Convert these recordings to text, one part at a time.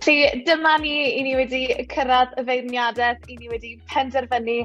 Felly, dyma ni, i ni wedi cyrraedd y feirniadaeth, i ni wedi penderfynu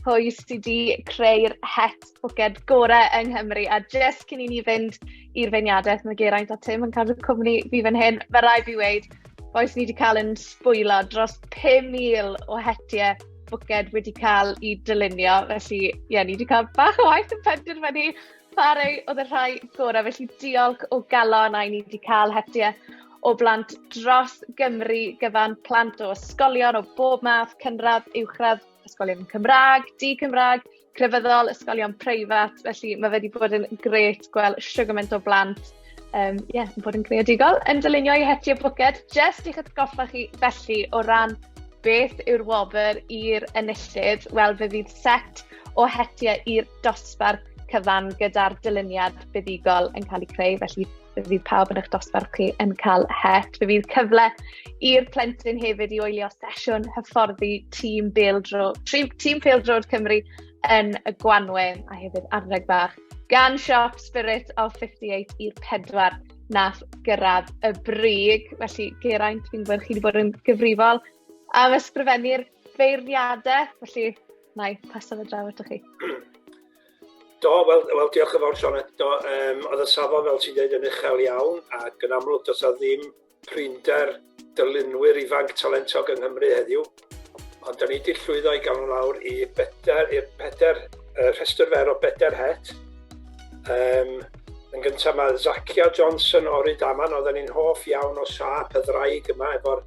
pwy sydd wedi creu'r het bwced gorau yng Nghymru. A jes cyn i ni fynd i'r feirniadaeth, mae Geraint a Tim yn cadw cwmni fi fan hyn. Mae rai fi wneud, boes ni wedi cael yn sbwylo dros 5,000 o hetiau bwced wedi cael i dylunio. Felly, ie, yeah, ni wedi cael bach o waith yn penderfynu Sori, oedd y rhai gorau, felly diolch o galon a i ni wedi cael hetiau o blant dros Gymru gyfan, plant o ysgolion o bob math, cynradd, uwchradd, ysgolion Cymraeg, di-Cymraeg, crefyddol, ysgolion preifat, felly mae wedi bod yn gret gweld sio gymaint o blant um, yeah, yn bod yn creadigol, yn dylunio i hetiau bwced, jyst i'ch atgoffa chi felly o ran beth yw'r wobr i'r enillydd, wel fe fydd set o hetiau i'r dosbarth cyfan gyda'r dyluniad buddugol yn cael ei creu, felly bydd pawb yn eich dosbarth chi yn cael het. Fe fydd cyfle i'r plentyn hefyd i oelio sesiwn hyfforddi tîm Beeldro, tîm Peeldrod Cymru yn y Gwanwyn a hefyd arddeg bach gan siop Spirit of 58 i'r pedwar nath gyrraedd y brig. Felly, Geraint, fi'n gwybod chi wedi bod yn gyfrifol am ysgrifennu'r feirniadaeth, felly Na i, pasaf y draw atoch chi. Do, wel, wel diolch yn fawr Sionet. Do, um, oedd y safon fel ti'n dweud yn uchel iawn ac yn amlwg does a ddim prinder dylunwyr ifanc talentog yng Nghymru heddiw. Ond da ni wedi llwyddo i gael nhw lawr i bedair, i'r pedair, uh, rhestr fer o bedair het. Um, yn gyntaf mae Zakia Johnson o'r Rydaman, oedden ni'n hoff iawn o siap y ddraig yma efo'r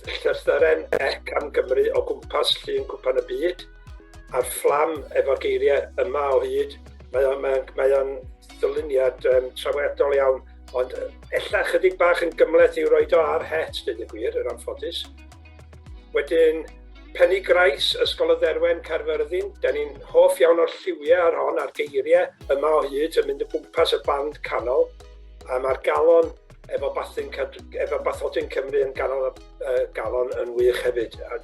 Llythyren Ec am Gymru o gwmpas llun cwpan y byd, a'r fflam efo'r geiriau yma o hyd. Mae o'n, mae o'n, mae o'n ddyluniad um, trawiadol iawn, ond ella chydig bach yn gymleth i'w roed o ar het, dweud y gwir, yr anffodus. Wedyn, Penny Grais, Ysgol y Dderwen, Caerfyrddin. Da ni'n hoff iawn o'r lliwiau ar hon, a'r geiriau yma o hyd yn mynd o gwmpas y band canol. A mae'r galon efo Bathin efo Bathodyn Cymru yn ganol y uh, galon yn wych hefyd. A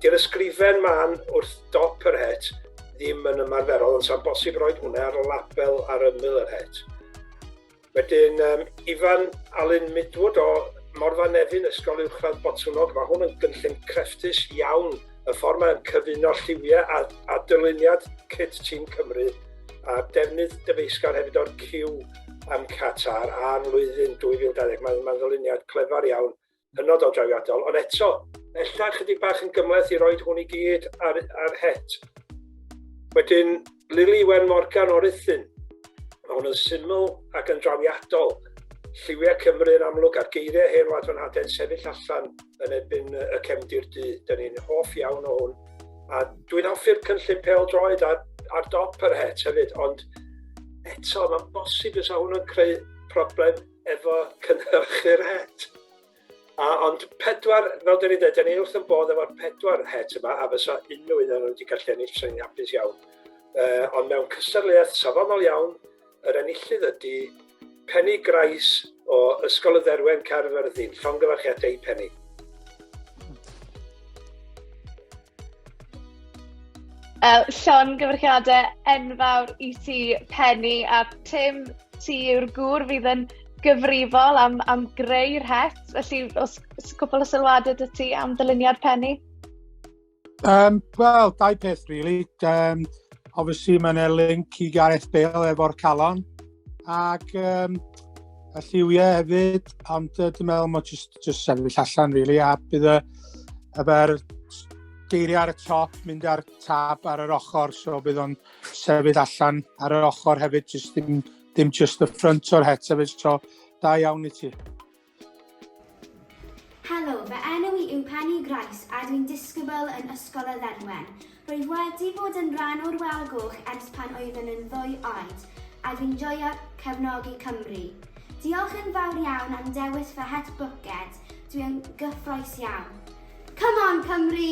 di'r ysgrifen man wrth dop yr het ddim yn ymarferol, ond sa'n bosib roed hwnna ar y label ar ymyl yr het. Wedyn, um, Ifan Alun Midwood o Morfa Nefyn, Ysgol Uwchradd Botwnog, mae hwn yn gynllun crefftus iawn y ffordd mae'n cyfuno lliwiau a, a dyluniad cyd tîm Cymru a defnydd dyfeisgar hefyd o'r cyw am Qatar a'r flwyddyn 2020. Mae'n ma ddyluniad clefar iawn, hynod o drawiadol, ond eto, ella chydig bach yn gymleth i roed hwn i gyd ar, ar het. Wedyn, Lili Wen Morgan o Ruthun, Mae hwn yn syml ac yn drawiadol. Lliwiau Cymru yn amlwg a'r geiriau hen wlad fan haden sefyll allan yn erbyn y cefndir du. Dyn ni'n hoff iawn o hwn. A dwi'n hoffi'r cynllun pel droed ar, ar dop yr het hefyd, ond eto mae'n bosib fysa hwn yn creu problem efo cynhyrchu'r het. A ond pedwar, fel dyn ni dweud, dyn ni wrth yn bod efo'r pedwar het yma, a fysa unrhyw un o'n wedi gallu ennill, fysa ni'n hapus iawn. Uh, ond mewn cystadleuaeth safonol iawn, yr enillydd ydy Penny Grais o Ysgol y Dderwen Caerfyrddin. Llongyfarchiadau i Penny. Uh, Llon gyfrchiadau enfawr i ti, Penny, a Tim, ti yw'r gŵr fydd yn gyfrifol am, am greu'r het. Felly, os, os cwpl o sylwadau dy ti am dyluniad Penny? Um, Wel, dau peth, really. Um, obviously, mae'n e link i Gareth Bale efo'r calon. ac um, y lliwiau hefyd, ond uh, dwi'n meddwl mae jyst, jyst sefyll allan, really, a bydd y, y fer geiriau ar y top, mynd ar tab ar yr ochr, so bydd o'n sefyll allan ar yr ochr hefyd, just dim, dim just y ffrant o'r het hefyd, so da iawn i ti. Helo, fy enw i yw Penny Grice a dwi'n disgybl yn Ysgol y Ddenwen. Rwyf wedi bod yn rhan o'r Wal Goch ers pan oeddwn yn ddwy oed a dwi'n joio cefnogi Cymru. Diolch yn fawr iawn am dewis fy het bwced, dwi yn gyffroes iawn. Come on Cymru!